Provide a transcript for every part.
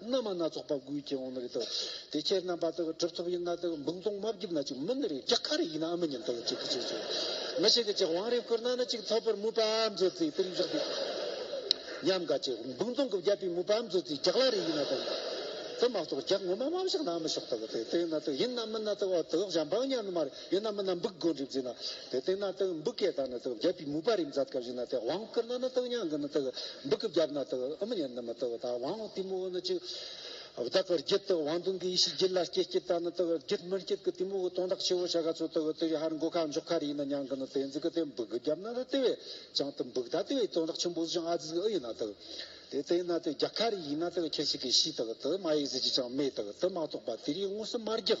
སྣ་མ་སྣ་ཚོགས་པ་དགུའི་རྐྱེན་འོང་ནི་རེད་དོ། དེ་ཕྱིར་རྣམ་པ་དག་གྲུབ་ཐོབ་ཡིན་ན་དག་འབུམ་སྟོང་མ་བརྒྱུད་ན་ཅིག་མིན་ནི་རེད་རྒྱ་ག་རེ་ཡིན་ནའང་མི་ཉན་ཏོ་ཅིག་གིས་ཅིག་ཅིག་མི་ཞིག་གིས་ཅིག་བང་རིམ་བསྐུར་ན་ནི་ཅིག་ཐོབ་པར་མོས་པའམ་མཛོད་རྩིས་དེར་འཇུག་དུས་ཉམས་དགའ་ཅིག་འབུམ་སྟོང་གི་བརྒྱ་པའི་མོས་པའམ་མཛོད་རྩིས་རྒྱག་ལ་རེ་ཡིན་ན་དག་དེ་མ་གཏོགས་རྒྱག་ངོ་མ་མམ་ཞག་ནའང་མི་ཞོག་ཏོ་དེ་དེ་ཡིན་ན་དག་ཡིན་ནམ་མིན་ན་དག་ཨོ་དོ་བཞམས་པའང་ཉམས་ནི་མ་རེད། ཡོད་ན་མི་ན་འབུག་སྒོ་འགྲིབ་རྫི་ན་དེ་སྟེང་ན་དག་འབུག་གེ་དག་ན་དག་བརྒྱད་པའི་མུ་པ་རིམ་ཛ྄་དཀར་བཞི་ན་དེ་བང་དཀར་ན་ན་དག་ཉང་གི་ན་དག་འབུག་གི་བརྒྱ་པ་ན་དག་ཨུ་མི་ཉན་ན་མི་དག་དག་བང་བསྟིམ་མོ་བོ་ན་གཅིག། བདག་གི་བརྒྱུད་དག་བང་དུང་གི་ཡེ་ཤེས་བརྒྱུད་ལ་སྐྱེས་སྐྱེས་དག་ན་དག་བརྒྱུད་མི་བརྒྱུད་གི་བསྟིམ་མོ་བོ་དོང་དག་ཆེ་བོ་བྱ་ག་ཚོ་དག་དེ་བའི་ཧར་མགོ་ཁ་མཆོག་ཁ་རི་ཡི་ན་ཉང་གི་ན་དེ་འཛི་གི་དེ་འབུག་གི་བརྒྱ་པ་ན་ན་དེ་བས་ཀྱང་དེ་འབུག་དག་དེ་བའི་དོང་དག་ཆེན་པོ་བཟི་ཅིང་ཨ་ཛི་གི་ཨུ་ཡི་ན་དག་དེ་སྟེང་ན་དེ་བརྒྱ་ཁ་རི་ཡི་ན་དག་ཁྱེར་ཤི་གི་ཤི་དག་དེ་མ་ཡི་ཟི་ཅི་ཅང་མེ་དག་དེ་མ་གཏོགས་པ་དེ་རིའི་ངོ་སི་མ་བརྒྱག།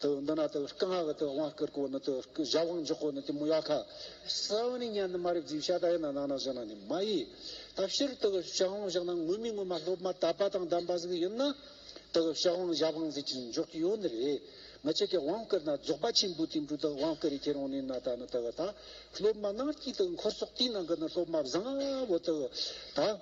དུ་འདི་ན་དུ་སྐུ་སྔགས་དུ་དབང་བསྐུར་གོ་ནི་དུ་སྐུ་བཞག་དབང་འཇོག་གོ་ནི་དུ་མོ་ཡ་ཁ་ས་བ་ནི་གཉན་དུ་མ་རིག་རྫིས་བྱ་ད་ཡིན་ན་ནང་ན་བཞག་ན་ནི་མ་ཡི། ད་ཕྱིར་དུ་བཞག་དབང་བཞག་ན་ངུ་མི་ངུ་མ་སློབ་མ་དད་པ་དང་ལྡན་པ་ཟིག་ཡིན་ན་དུ་བཞག་དབང་བཞག་དབང་རྫས་ཀྱི་འཇོག་གི་ཡོད་ནི་རེད་མི་ཆེ་གེ་དབང་བསྐུར་ན་རྫོགས་པ་ཆེན་པོའི་དུས་འགྲོ་དུ་དབང་བསྐུར་ཡི་གེ་རང་ནི་ན་ད་ནི་དུ་བ་ད་སློབ་མ་སྣང་སྐྱིད་དུ་འཁོར་སོགས་དུས་ན་གི་ནི་སློབ་མ་བཟང་བོ་དུ་བ་ད།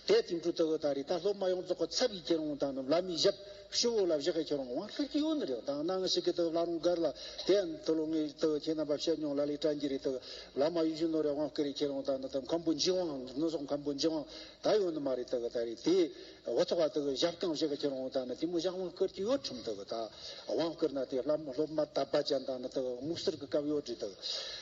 དེས་དེང་སྤྲུལ་ལྟ་བུ་དང་རིགས་དང་སློབ་མ་ཡོངས་རྫོགས་ཀྱི་ཚབ་ཀྱིས་ཁྱེད་རང་དང་རྣམས་ལ་མི་བཞག་ཤི་བོ་ལ་བཞག་གི་ཁྱེད་རང་དབང་ཤར་གྱི་ཡུལ་ན་རེག་དང་སྣང་ཤེས་ཀྱི་ལྟ་བུ་ལྷག་རུང་དགར་ལ་དེ་ཡང་འདི་ལོ་ངའི་ལྟ་བུ་ཁྱེད་རྣམས་པ་བཤད་མྱོང་ལ་ལས་བཀྲ་འགྱེད་རེ་ལྟ་བུ་ལ་མ་ཡུལ་གཞོན་ནུ་རེ་དབང་བསྐུར་རེ་ཁྱེད་རང་དང་ནི་དམ་ཁམས་པོ་འཇིགས་དབང་ནི་སོགས་ཁམས་པོ་འཇིགས་དབང་དག་ཡོད་ནི་མ་རེད་ལྟ་བུ་དག་རེད་དེ། འོ་ཐོག་བ་ལྟ་བུ་བཞག་ཀྱང་བཞག་གི་ཁྱེད་རང་དང་ནི་དེ་མི་བཞག་དབང་བསྐུར་གྱི་ཡོད་ཁྲིམས་ལྟ་བུ་དག་དབང་བསྐུར་ན་དེ་སློབ་མ་དམ་པ་ཅན་དང་ནི་ལྟ་བུ་སྨུག་སེར་གྱི་སྐབས་ཡོད་རེད་ལྟ་བུ།